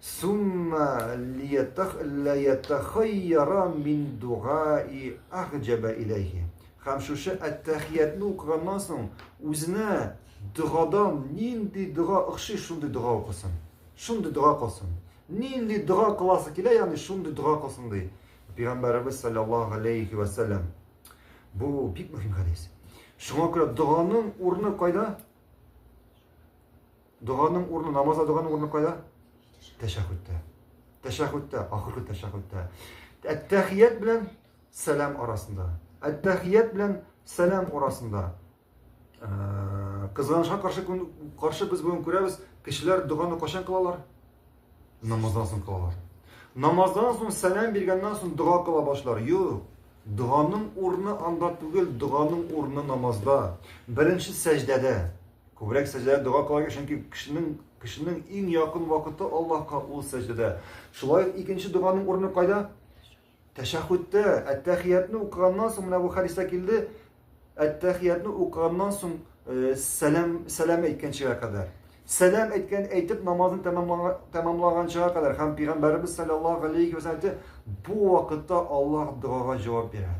Сумма ләятәхәйяра мин дугаи әхҗәбә иләйһи. Хәм шушы әттәхиятне укыганнан соң, үзенә догадан нинди дога охши, шундый дога укысын. Шундый дога кылсын. Нинди дога кыласы килә, ягъни шундый дога кылсын ди. Пәйгамбәребез саллаллаһу алейхи ва саллям. Бу бик мөһим хәдис. Шуңа күрә доганың урыны кайда? Доганың урны, намазда доганың урны кайда? Тәшәхүттә. Тәшәхүттә, ахыргы тәшәхүттә. Әттәхият белән сәлам арасында. Әттәхият белән сәлам арасында. Э, Кызганышка каршы, каршы без бүген күрәбез, кешеләр доганы кашан кылалар? Намаздан соң кылалар. Намаздан соң сәлам биргәннән соң дога кыла башлар. Юк. Доганың урны анда түгел, доганың урны намазда. Беренче сәҗдәдә. Күбрәк сәҗдәдә дога кылырга, чөнки кешенең кешенең иң якын вакыты Аллаһка ул сәҗдәдә. Шулай ук икенче доганың урыны кайда? Тәшәххүттә, әттәхиятны укыганнан соң менә бу хәдистә килде. Әттәхиятны укыганнан соң э, сәлам сәлам әйткәнчегә кадәр. Сәлам әйткән әйтеп намазын тәмамлаганчыга кадәр һәм пәйгамбәребез саллаллаһу алейхи ва бу вакытта Аллаһ догага җавап бирә.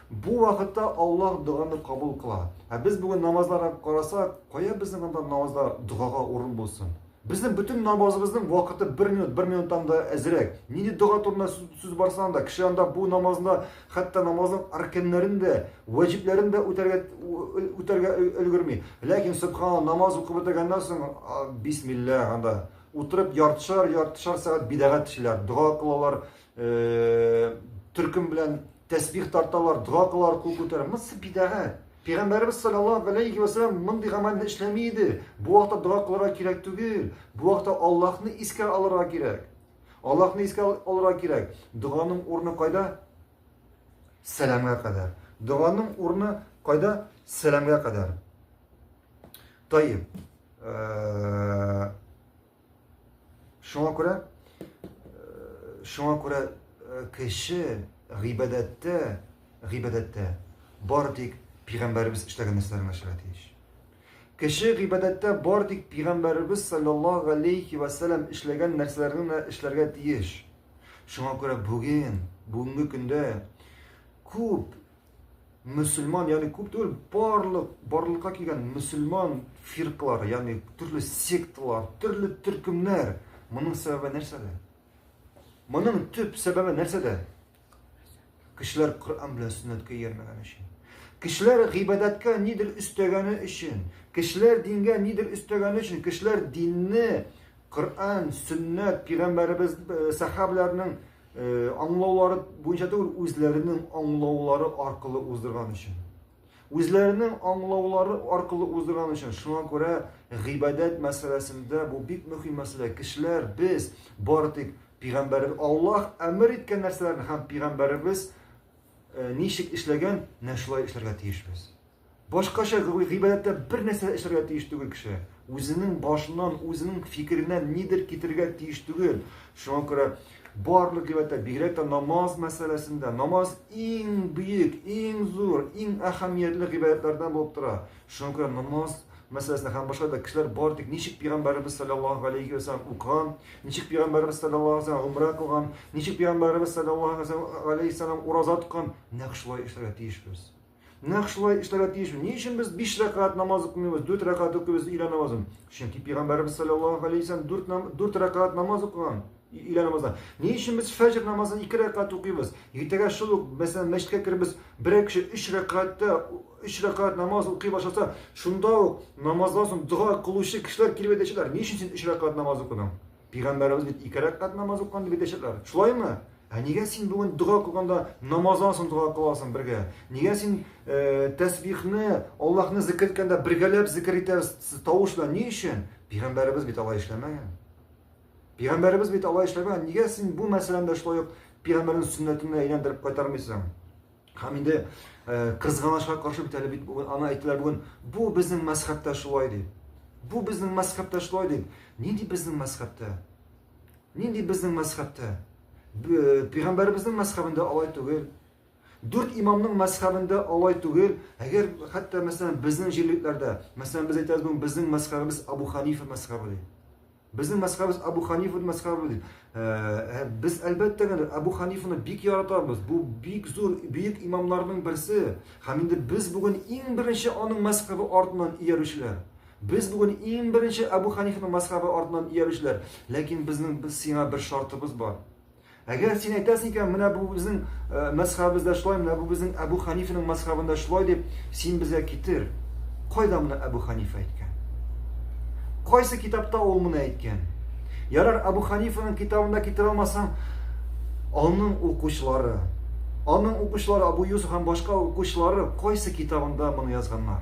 Бу вакытта Аллаһ доганы кабул кыла. Ә без бүген намазларга карасак, кая безнең анда намазда догага урын булсын? Безнең бөтен намазыбызның вакыты 1 минут, 1 минуттан да әзрәк. Нинди дога турында сүз барса анда, кеше анда бу намазны, хәтта намазның арканнарын да, ваҗибләрен дә үтәргә үтәргә өлгерми. Ләкин субханалла намаз укып бетергәннән соң бисмилла анда утырып яртышар, яртышар сәгать бидагат эшләр, дога кылалар, Э, төркем белән тәсбих тарталар, дога кылалар, кул күтәрә. Монсы бидәгать. Пәйгамбәрбез саллаллаһу алейхи ва саллям мондый гамәлне эшләми иде. Бу вакытта дога кылырга кирәк түгел. Бу вакытта Аллаһны искә алырга кирәк. Аллаһны искә алырга кирәк. Доганың урыны кайда? Сәламгә кадәр. Доганың урыны кайда? Сәламгә кадәр. Тайып. Э, Шуңа күрә шуңа күрә кеше гыйбадәттә, гыйбадәттә бар тик пигамбәребез эшләгән нәрсәләр генә эшләргә тиеш. Кеше гыйбадәттә бар тик пигамбәребез саллаллаһу алейхи ва саллям эшләгән нәрсәләр генә эшләргә тиеш. Шуңа күрә бүген, бүгенге көндә күп мөселман, ягъни күп түгел, барлык барлыкка килгән мөселман фиркалары, ягъни төрле секталар, төрле төркемнәр. Моның сәбәбе нәрсәдә? Моның төп сәбәбе нәрсәдә? Кешеләр Коръән белән сөннәткә иярмәгән өчен. Кешеләр гыйбадәткә нидер өстәгәне өчен, кешеләр дингә нидер өстәгәне өчен, кешеләр динне Коръән, сөннәт, пигамбәребез, сәхабәләрнең аңлаулары буенча түгел, үзләренең аңлаулары аркылы уздырган өчен. Үзләренең аңлаулары аркылы уздырган өчен. Шуңа күрә гыйбадәт мәсьәләсендә бу бик мөһим мәсьәлә. Кешеләр без бары тик пигамбәр Аллаһ әмер иткән нәрсәләрне һәм пигамбәребез ничек эшләгән, менә шулай эшләргә тиешбез. Башкача гыйбадәттә бер нәрсә эшләргә тиеш түгел кеше. Үзенең башыннан, үзенең фикереннән нидер китергә тиеш түгел. Шуңа күрә барлык гыйбадәттә, бигрәк тә намаз мәсьәләсендә, намаз иң бөек, иң зур, иң әһәмиятле гыйбадәтләрдән булып тора. Шуңа күрә намаз мәсьәләсендә һәм башка да кешеләр бар тик ничек пигамбәребез саллаллаһу алейхи ва саллям укыган, ничек пигамбәребез саллаллаһу алейхи ва саллям гомрә кылган, ничек пигамбәребез саллаллаһу алейхи ва саллям ураза тоткан, нәкъ шулай эшләргә тиешбез. Нәкъ шулай эшләргә тиешме? Ни өчен без 5 рәкәгать намаз укымыйбыз, 4 рәкәгать укыйбыз өйлә намазын? Чөнки пәйгамбәрбез саллаллаһу алейһи вәсәлләм 4 нам 4 рәкәгать намаз укыган өйлә намазы. Ни өчен без фәҗр намазын 2 рәкәгать укыйбыз? Иртәгә шул ук, мәсәлән, мәчеткә кербез, берәр кеше 3 рәкәгатьтә 3 рәкәгать намаз укый башласа, шунда ук намаздан соң дога кылучы кешеләр килеп әйтәчәкләр, ни өчен син 3 рәкәгать намаз укыдың? Пигамбәребез бит ике рәкәт намаз укыган дип әйтәчәкләр. Шулаймы? Ә нигә син бүген дога кылганда намаздан соң дога кыласың бергә? Нигә син э, тәсбихны, Аллаһны зикр иткәндә бергәләп зикр итәсез тавыш белән? Ни өчен? Пигамбәребез бит алай эшләмәгән. Пигамбәребез бит алай эшләмәгән. Нигә син бу мәсьәләне дә шулай ук пигамбәрнең сөннәтенә әйләндереп кайтармыйсың? Һәм инде кызганычка каршы бит әле бит бүген аны әйттеләр бүген, бу безнең мәзхәбтә шулай ди. Бу безнең мәзхәбтә шулай ди. Нинди безнең мәзхәбтә? Нинди безнең мәзхәбтә? Пәйгамбәребезнең мәзхәбендә алай түгел. Дүрт имамның мәзхәбендә алай түгел. Әгәр хәтта мәсәлән безнең җирлекләрдә, мәсәлән без әйтәбез бүген безнең мәзхәбебез Абу Ханифа мәзхәбе ди. Безнең мәзхәбебез Абу Ханифа мәзхәбе дип. Ә, без әлбәттә генә Абу Ханифаны бик яратабыз. Бу бик зур бөек имамнарның берсе. Һәм инде без бүген иң беренче аның мәзхәбе артыннан иярүчеләр. Без бүген иң беренче Абу Ханифаның мәзхәбе артыннан иярүчеләр. Ләкин безнең сиңа бер шартыбыз бар. Әгәр син әйтәсең икән, менә бу безнең э, мәсхабыбызда шулай, менә бу безнең Әбу Ханифаның мәсхабында шулай дип, син безгә китер. Кайда моны Әбу Ханифа әйткән? Кайсы китапта ул моны әйткән? Ярар, Әбу Ханифаның китабында китерә алмасаң, аның укучылары, аның укучылары Абу Юсуф һәм башка укучылары кайсы китабында моны язганнар?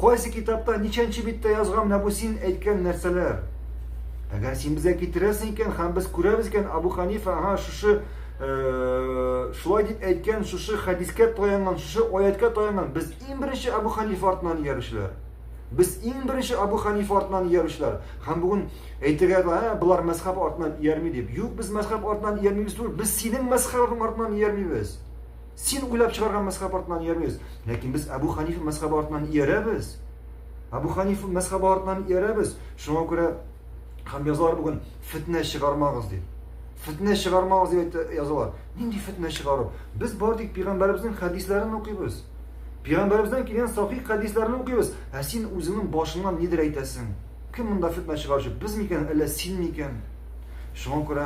Кайсы китапта ничәнче биттә язган менә бу син әйткән нәрсәләр? Әгәр син безгә китерәсең икән һәм без күрәбез икән, Абу Ханифа, ага, шушы э, шулай дип әйткән, шушы хәдискә таянган, шушы аяткә таянган, без иң беренче Абу Ханифа артынан иярүчеләр. Без иң беренче Абу Ханифа артынан иярүчеләр. Һәм бүген әйтергә дә, ә, болар мәзхәб артынан иярми дип. Юк, без мәзхәб артынан иярмибез түгел, без синең мәзхәбең артынан иярмибез. Син уйлап чыгарган мәзхәб артыннан иярмибез, ләкин без Әбү Хәнифә мәзхәбе артыннан иярәбез. Әбү Хәнифә мәзхәбе артыннан иярәбез. Шуңа күрә һәм язалар бүген фетнә чыгармагыз дип. Фетнә чыгармагыз дип язалар. Нинди фетнә чыгару? Без бар тик пигамбәребезнең хәдисләрен укыйбыз. Пигамбәребездән килгән сахих хәдисләрне укыйбыз. Ә син үзеңнең башыңнан нидер әйтәсең. Кем монда фетнә чыгаручы? Без микән, әллә син микән? Шуңа күрә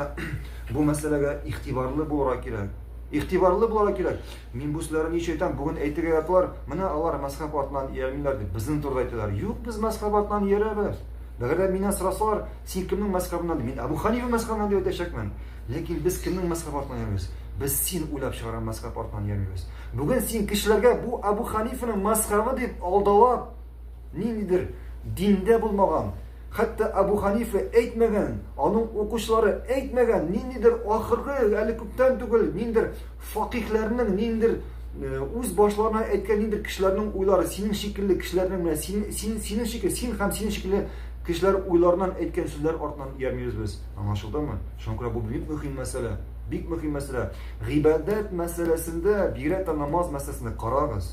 бу мәсьәләгә игътибарлы булырга кирәк. Игътибарлы булырга кирәк. Мин бу сүзләрне ничә әйтәм, бүген әйтергә яталар. Менә алар мәсхәб артыннан иярмиләр дип, безнең турыда әйтәләр. Юк, без мәсхәб артыннан иярәбез. Әгәр дә миннән сорасалар, син кемнең мәсхәбеннән? Мин Абу Ханифа мәсхәбеннән дип әйтәчәкмен. Ләкин без кемнең мәсхәб артыннан иярәбез? Без син уйлап чыгарган мәсхәб артыннан иярмибез. Бүген син кешеләргә бу Абу Ханифаның мәсхәбе дип алдалап, Ниндидер диндә булмаган, хәтта Абу Ханифа әйтмәгән, аның укучылары әйтмәгән, ниндидер ахыргы, әле күптән түгел, ниндидер факихләрнең, ниндидер э, үз башларына әйткән ниндидер кешеләрнең уйлары, синең шикелле кешеләрнең менә син, син, синең шикелле, син һәм синең шикелле кешеләр уйларыннан әйткән сүзләр артыннан иярмибез без. Аңлашылдымы? Шуңа күрә бу бик мөһим мәсьәлә. Бик мөһим мәсьәлә. Гыйбадәт мәсьәләсендә, бигрәк тә намаз мәсьәләсендә карагыз.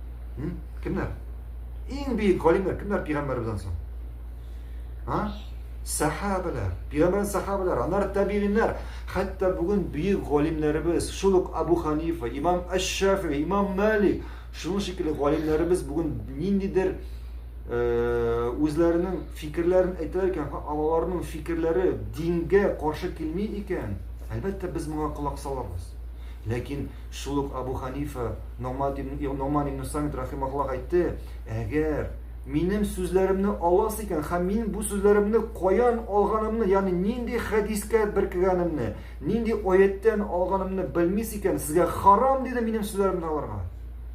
М? Кемнәр? Иң бөек галимнәр кемнәр пигамбәребездән соң? А? Сахабалар, пигамбәр сахабалар, анар табигиннәр. Хәтта бүген бөек галимнәребез, шул ук Абу Ханифа, имам Аш-Шафи, имам Малик, шуның шикелле галимнәребез бүген ниндидер э, үзләренең фикерләрен әйтәләр икән, аларның фикерләре дингә каршы килми икән, әлбәттә без моңа колак салабыз. Ләкин Шул ук Абу Ханифа Ногмат ибн Ногман ибн Самит рахимахуллаһ әйтте, әгәр минем сүзләремне аласы икән һәм минем бу сүзләремне каян алганымны, ягъни нинди хәдискә беркегәнемне, нинди аяттан алганымны белмис икән, сезгә харам диде минем сүзләремне алырга.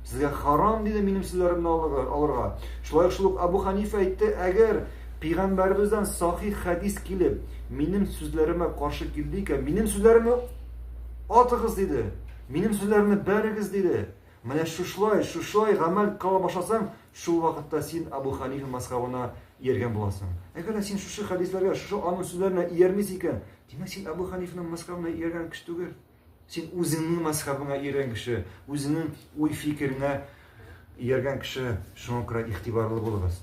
Сезгә харам диде минем сүзләремне алырга. Шулай ук шул ук Абу Ханифа әйтте, әгәр пәйгамбәребездән сахих хәдис килеп, минем сүзләремә каршы килде икән, минем сүзләремне Атыгыз, диде. Минем сүзләремне бәрегез, диде. Менә шушлай, шушлай гамәл кыла башласаң, шул вакытта син Абу Ханифа мазхабына ияргән буласың. Әгәр дә син шушы хәдисләргә, шушы аның сүзләренә иярмисең икән, димәк син Абу Ханифаның мазхабына ияргән кеше түгел. Син үзеңнең мазхабыңа ияргән кеше, үзеңнең уй-фикереңә ияргән кеше. Шуңа күрә игътибарлы булыгыз.